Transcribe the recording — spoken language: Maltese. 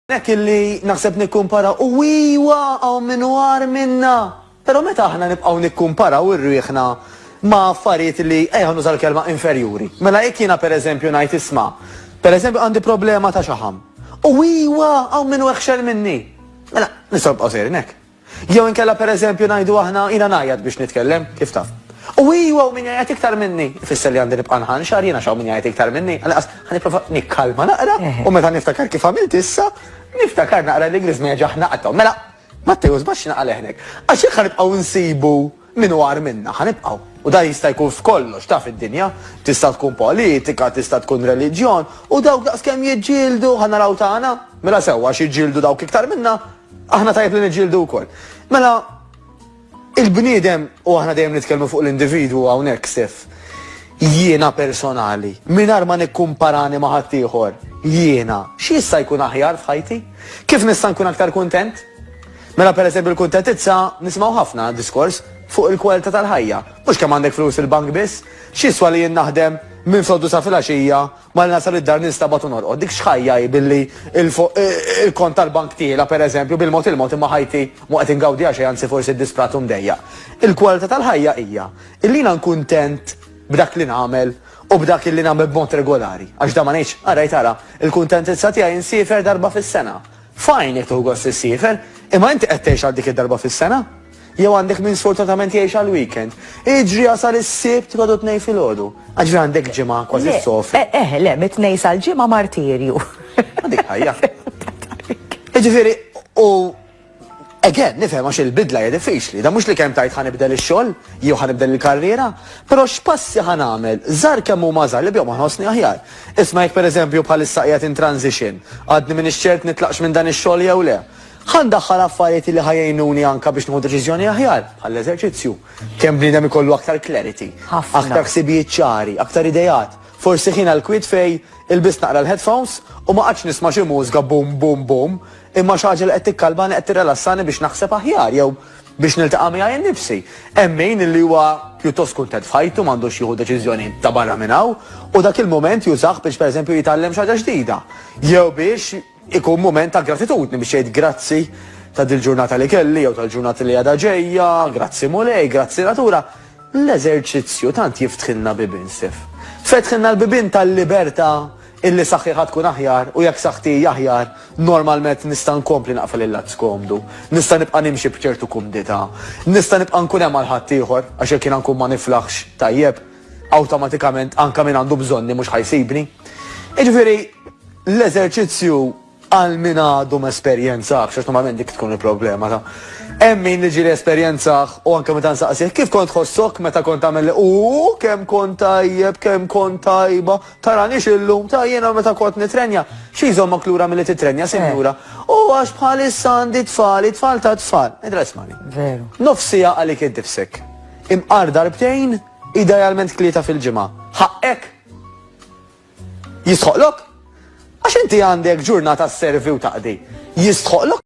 Hekk illi naħseb nikkumparaw u iwa hawn min hu agħar minna. Però meta aħna nibqgħu nikkumparaw irwieħna ma' affarijiet li, ejja nuża l-kelma, inferjuri. Mela jekk jiena pereżempju ngħid isma', pereżempju għandi problema ta' xaħam. U iwa hawn min hu eħxel minni. Mela nistgħu nibqgħu sejrin hekk. Jew inkella pereżempju ngħidu aħna jiena ngħajjat biex nitkellem, kif taf. U iju hawn min jgħajjat iktar minni, ifisser li għandi nibqa' nħanxar jien għax hawn min jgħajjat iktar minni, għalqas ħanipprova nikkalma naqra u meta niftakar kif għamilt issa, niftakar naqra li Griżmeja ġaħ naqtgħu. Mela, Mattew żbatt x'inqal hawnhekk. Għax jekk ħanibqgħu nsibu Min hu agħar minna? Ħa nibqgħu. U dan jista' jkun f'kollox, taf id-dinja. Tista' tkun politika, tista' tkun reliġjon, u dawk daqskemm jiġġieldu, ħa naraw tagħna? Mela sew, għax jiġġieldu dawk iktar minna, aħna tajjeb li niġġieldu wkoll. Mela, il-bniedem, u aħna dejjem nitkellmu fuq l-individwu hawnhekk, Stef, jiena personali, mingħajr ma nikkumparani ma' ħaddieħor, jiena, x'jista' jkun aħjar f'ħajti? Kif nista' nkun aktar kuntent? Mela pereżempju l-kuntettizza nisimgħu ħafna diskors fuq il-kwalità tal-ħajja, mhux kemm għandek flus fil-bank biss. X'jiswa li jien naħdem minn froddu sa filgħaxija, malli nasal id-dar ninstabgħat u norqod. Dik x'ħajja hi billi l-kont tal-bank tiela pereżempju bil-mod il-mod imma ħajti mhu qed ingawdiha xejn anzi forsi disprat u mdejjaq. Il-kwalità tal-ħajja hija illi jiena nkuntent b'dak li nagħmel u b'dak illi nagħmel b'mod regolari. Għax dan ma ngħidx, ara jtara, il-kuntentizza tiegħi nsiefer darba fis-sena. F'għajnek tieħu gost issiefer, imma inti qed tgħix għal dik id-darba fis-sena? Jew għandek min sfortunatament jgħix għall-weekend? Iġri jasal is-Sibt tgħodu t-Tnejn filgħodu. Aġri għandek ġimgħa kważi Le, ssofri. eh, eh, le, mit-tnejn sal-ġimgħa martirju. Ma dik ħajja. Jiġifieri, u again, nifhem għax il-bidla hija diffiċli. Da mhux li kemm tajt ħanibdel ix-xogħol jew ħanibdel il-karriera, però x'passi ħanagħmel żar kemm huma żar li bjom ħossni aħjar. Isma' jekk pereżempju bħalissa qiegħed in transition, għadni m'iniex ċert nitlaqx minn dan ix-xogħol jew le. Ħa ndaħħal affarijiet li ħa jgħinuni anke biex nieħu deċiżjoni aħjar, bħall-eżerċizzju. Kemm bniedem ikollu aktar clarity. Aktar ħsibijiet ċari, aktar ideat. Forsi ħin għall-kwiet fejn ilbist naqra l-headphones u ma qgħadx nisma' xi mużga boom boom boom, imma xi ħaġa li qed tikkalmani, qed tirrelassani biex naħseb aħjar jew biex niltaqa' miegħi nnifsi. Hemm min li huwa pjuttost kuntent f'ħajtu m'għandux jieħu deċiżjoni ta' barra minn hawn u dak il-mument jużah biex pereżempju jitgħallem xi ħaġa ġdida. Jew biex ikun mument ta' gratitudni biex jgħid grazzi ta' dil-ġurnata li kelli jew tal-ġurnata li għadha ġejja, grazzi Mulej, grazzi natura. L-eżerċizzju tant jiftħilna bibien, Stef. Fetħilna l-bibien tal-libertà Illi saħħiħa tkun aħjar u jekk saħħti hi aħjar, normalment nista' nkompli naqfel il-lat skomdu. Nista' nibqa' nimxi b'ċertu kumdità. Nista' nibqa' nkun hemm għal ħaddieħor għax jekk jiena nkun ma niflaħx tajjeb, awtomatikament anke min għandu bżonni mhux ħa jsibni. Jiġifieri, l-eżerċizzju Għal min għadu ma esperjenzahx, għax normalment dik tkun il-problema ta' hemm min li ġieli esperjenzah u anke meta nsaqsih kif kont tħossok meta kont tagħmel li u kemm kont tajjeb, kemm kont tajba, taranix illum ta' jiena meta kont nitrenja. Xi jżommok lura milli titrenja, sinjura? U għax bħalissa għandi tfal, it-tfal ta' tfal. Idra ismani. Veru. Nofsija għalik id-difsek. Imqar darbtejn, idealment tlieta fil-ġimgħa. Ħaqqek! Jistħoqqlok? Għax inti għandek ġurnata sservi u taqdi. Jistħoqqlok?